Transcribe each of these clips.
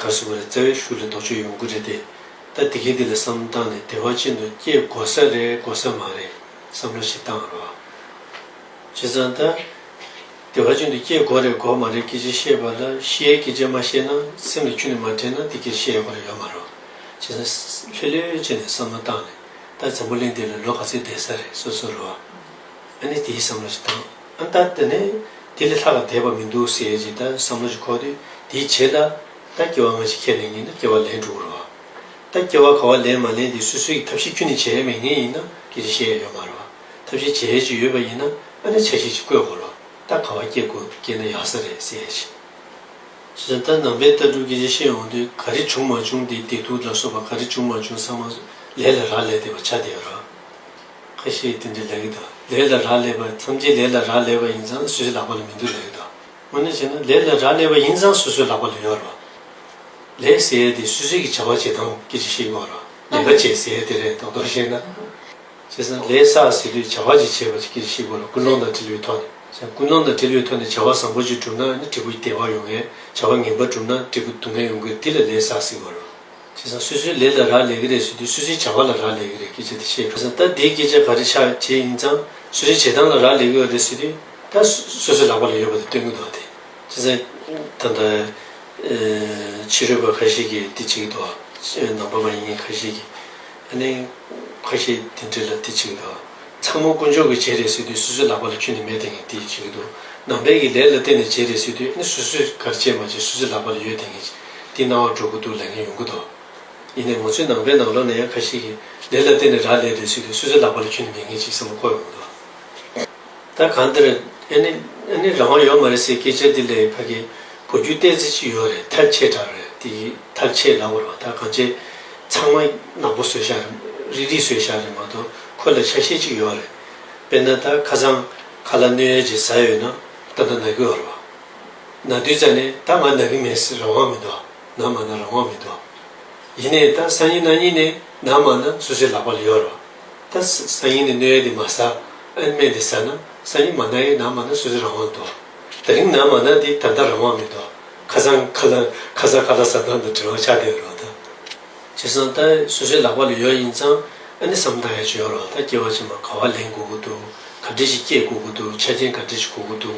གར་སོང་བ་རེད་བཙན་བྱོལ་ལ་ལྡོག་ཆོས་ཡོང་གི་རེད་དེ་ད་དེ་གས་དེ་ལ་བསམ་བཏང་ནས་བདེ་བ་ཅན་དུ་སྐྱེ་དགོས་ས་རེད་དགོས་ས་མ་རེད་བསམ་བློ་ཞིག་བཏང་རོགས། བྱས་ཙང་ད་བདེ་བ་ཅན་དུ་སྐྱེ་དགོས་རེད་དགོས་མ་རེད་སྐད་ཆ་བཤད་པ་ལ་ཤེས་ཡའི་སྐད་ཆ་མ་བཤད་ན་སེམས་ལ་ཆུ་ནས་མ་དྲན་ན་དེ་སྐད་བཤད་ཡོང་གི་རེད་ཡོད་མ་རེད། བྱས་ཙང་ལྷོད་ལྷོད་བྱས་ནས་བསམ་བློ་བཏང་ནས་ད་འཛམ་བུ་གླིང་འདི་ལ་ལོ་ག་ཚོད་བསྡད་ས་རེད་སོ་སོ་རོགས། ཨ་ནི་དེའི་བསམ་བློ་ཞིག་བཏང། ཨ་ཏ་ཏི་ནས་དེ་ལས་ལྷག་ལ་དད་པ་མི་འདུག་ཟེར་ཅིག་ད་བསམ་བློ་ཞིག་ཁོག་དུས་དེའི་བྱེད་ད་ད་སྐྱེ་བ་སྔ་ཕྱི་ཁས་ལེན་གྱིན་ད་སྐྱེ་བ་ལེན་འགྲོ་གི་རེད་བ། ད་སྐྱེ་བ་ག་བ་ལེན་མ་ལེན་དེ་སུས་སུས་ཀྱི་ཐབས་ཤེས་ཁྱོད་ནས་བྱས་མེད་ངེས་ཡིན་ན་ཁྱེད་ཀྱིས་ཤེས་ཡ་ཡོད་མ་རེད་བ། ཐབས་ཤེས་བྱས་ཀྱི་ཡོད་པ་ཡིན་ན་ཨ་ནེ་ཆ་ཤས་ཅིག་བཀོད་དགོས་རོགས་ད་ག་བ་སྐྱེ་དགོས་སྐྱེ་ན་ཡག་ས་རེད་ཟེར་ཅིག། ཞེས་བྱ་ད་ནང་པའི་ལྟ་གྲུབ་ཀྱི་ཡེ་ཤེས་འོང་དུས་ག་རེ་བྱུང་མ་བྱུང་དེ་བདེ་སྡུག་ལ་སོགས་པ་ག་རེ་བྱུང་མ་བྱུང་ཚང་མ་ལས་ལ་རག་ལས་དེ་བ་ཆ་དེ་རག། ཁ་ཤས་དེ་འདྲའི་ལས་ཀྱི་དང་ལས་ལ་རག་ལས་པ་མཚམས་ཀྱི་ལས་ལ་རག་ལས་པ་ཡིན་ཙང་སུས་ལག་པ་ལ་མི་འདུག་ལས་ཀྱི་དང་དངོས་གནས་བྱས་ན་ལས་ལ་རག་ལས་པ་ཡིན་ཙང་སོ་སོའི་ལག་པ་ལ་ཡོད་རེད་པ། ལས་ཟེར་ཡས་དེ་སུད་སུད་ཀྱི་བྱ་བ་བྱེད་སྟངས་ཀྱི་ཅིག་ཤེས་དགོས་ར་ལས་ཀ་བྱེད་ཟེར་ཡས་དེ་རེད་ཐོག་ཐོག་བཤད་ན། བྱས་ཙང་ལས་བསགས་ཟེར་དུས་བྱ་བ་ཅིག་བྱེད་པ་ཅིག་ཤེས་དགོས་ར་ཀུན་སློང་དང་དྲི་ལུའི་ཐོག་ནས་བྱས་ན་ཀུན་སློང་དང་དྲི་ལུའི་ཐོག་ནས་བྱ་བ་བཟང་པོ་ཅིག་བསྒྲུབ་ན་ནི་དྲི་བུ་བདེ་བ་ཡོང་ངེས་བྱ་བ་ངན་པ་བསྒྲུབ་ན་དྲི་བུ་སྡུག་བསྔལ་ཡོང་གི་དེ་ལ་ལས་བསགས་ཟེར་དགོས་ར། བྱས་ཙང་སུས་སུའི་ལས་ལ་རག་ལས་ཀྱི་རེད་ཟེར་དུས་སུས་སུའི་བྱ་བ་ལ་རག་ལས་ཀྱི་རེད་སྐད་ཆ་དེ་བཤད་དགོས། ད་དེའི་སྐད་ཆ་ག་རེ་ཆགས་བྱས་ཡིན་ཙང་སུ་རེ་བྱེད་སྟངས་ལ་རག་ལས་ཀྱི་རེད་ཟེར་དུས་ད་སུ་སུའི་ལག་པ་ལ་ཡོད་པ་དེ་སྟོན་གྱི་འདུག་དེ་བྱས་ཙང་ད་ད་ཕྱི་རོལ་པ་ཁ་ཤས་ཀྱིས་དེ་བྱེད་ཀྱི་འདུག་ཕྱི་ནང་པ་མ་ཡིན་མཁན་ཁ་ཤས་ཀྱིས་ཨ་ནེ་ཁ་ཤས་དེ་འདྲས་ལ་དེ་བྱེད་ཀྱི་འདུག་ཚང་མ་དཀོན་མཆོག་གིས་བྱས་རེད་ཟེར་དུས་སུ་སུའི་ལག་པ་ལ་ཁྱོད་ནི་མེད་དེ་ངས་དེ་བྱེད་ཀྱི་འདུག་ནང་པའི་གྱི་ལས་ལ་བརྟེན་ནས་བྱས་རེད་ཟེར་དུས་ཨ་ནེ་སུ་སུས་ག་རེ་བྱས་མ་བྱས་སུ་སུའི་ལག་པ་ལ་ཡོད་དེ་ངས་འདི་སྣང་བ་འགྲོ་གི་འདུག་ལས་ངན་ཡོང་གི་འདུག་ཡིན་ནའི་ངོ་ཚོའི་ནང་པའི་ནང་ལོག་ན་ཡང་ཁ་ཤས་ཀྱིས་ལས་ལ་བརྟེན་ནས་རག་ལས་འདོད་ཚུལ་དེ་སུས་ཚོད་ལག་པ་ལ་འཁྱུད་ནས་ཉན་མཁན་ཞིག་བསམ་བློ་འཁོར་ཡོང་གི་འདུག་ད་གང་འདིར་ཨེ་ནི་ཨེ་ནི་རང་དབང་ཡོད་མ་རེད་ཟེར་སྐད་ཆ་འདི་ལས་ཕ་གི་བུ་རྒྱུད་སྟེན་ཚེ་ཅི་ཡོད་རེད་ཐལ་ཆེ་དྲག་རེད་འདི་ཡི་ཐལ་ཆེ་ལག་པར་བ་ད་གང་བྱས་ཚང་མ་ནག་པོ་ཟོས་ཤག་རིག་རིག་ཟོས་ཤག་རེད་མ་གཏོགས་ཁོ་ལ་ཆ་ཤས་ཅིག་ཡོད་རེད་དཔེར་ན་ད་ཁ་སང་ཁ་ལ་གནོད་ཡོད་ཅེས་ཟ་ཡོད་ན་ད་ད་ན་གུས་བར་བ། ན་བདུད་རྩི་ནི་ད་ང་ན་གི་མེད་སྲིད་རང་དབང་མི་འདུག་ན་མ་ན་རང་དབང་མི་འདུག། ཡིན་ནའི་ད་ས་ཡིན་ན་གཉིས་ནི་ན་མ་ན་སུ་ཞིག་ལག་པ་ལ་ཡོད་རོ། ད་ས་ཡིན་ནི་གནོད་ཡས་འདི་མ་ཟ་ཨན་སྨན་འདི་ཟ་ན་ས་ཡིན་མ་ན་ཡིན་ན་མ་ན་སུ་ཞིག་རང་དབང་འདུག་ད་རིང་ན་མ་ན་འདི་ད་ད་རང་དབང་མི་འདུག་ཁ་སང་ཁ་ལ་ཁ་ས་ཁ་ལ་ཟ་ཐང་དང་དྲི་བ་ཆགས་བསྡད་རོ་ད། བྱས་སང་ད་སུ་ཞིག་ལག་པ་ལ་ཡོད་ཡིན་ཙང་ཨན་ནི་བསམ་ཐང་ཡ་ཅི་ཡོད་རོ་ད་སྐྱེ་བ་ཕྱི་མ་ག་བ་ལེན་དགོས་ཀུ་འདུག་ག་འདྲི་ཞིག་སྐྱེས་དགོས་ཀུ་འདུག་ཆ་རྐྱེན་ག་འདྲི་ཞིག་གོ་ཀུ་འདུག།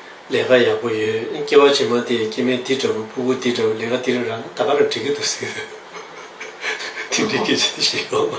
ལས་ཀ་ཡག་པོ་ཡོད་སྐྱེ་བ་བྱེ་མ་དེ་སྐྱེ་མེད་འདི་འདྲ་བོ་སྤུ་གུ་འདི་འདྲ་བོ་ལས་ཀ་འདི་ར་རང་ད་ག་ར་འགྲིག་གི་འདུག་ཟེར་གི་འདུག་དེ་འགྲིག་གི་རེད་ཞེས་ཡོང།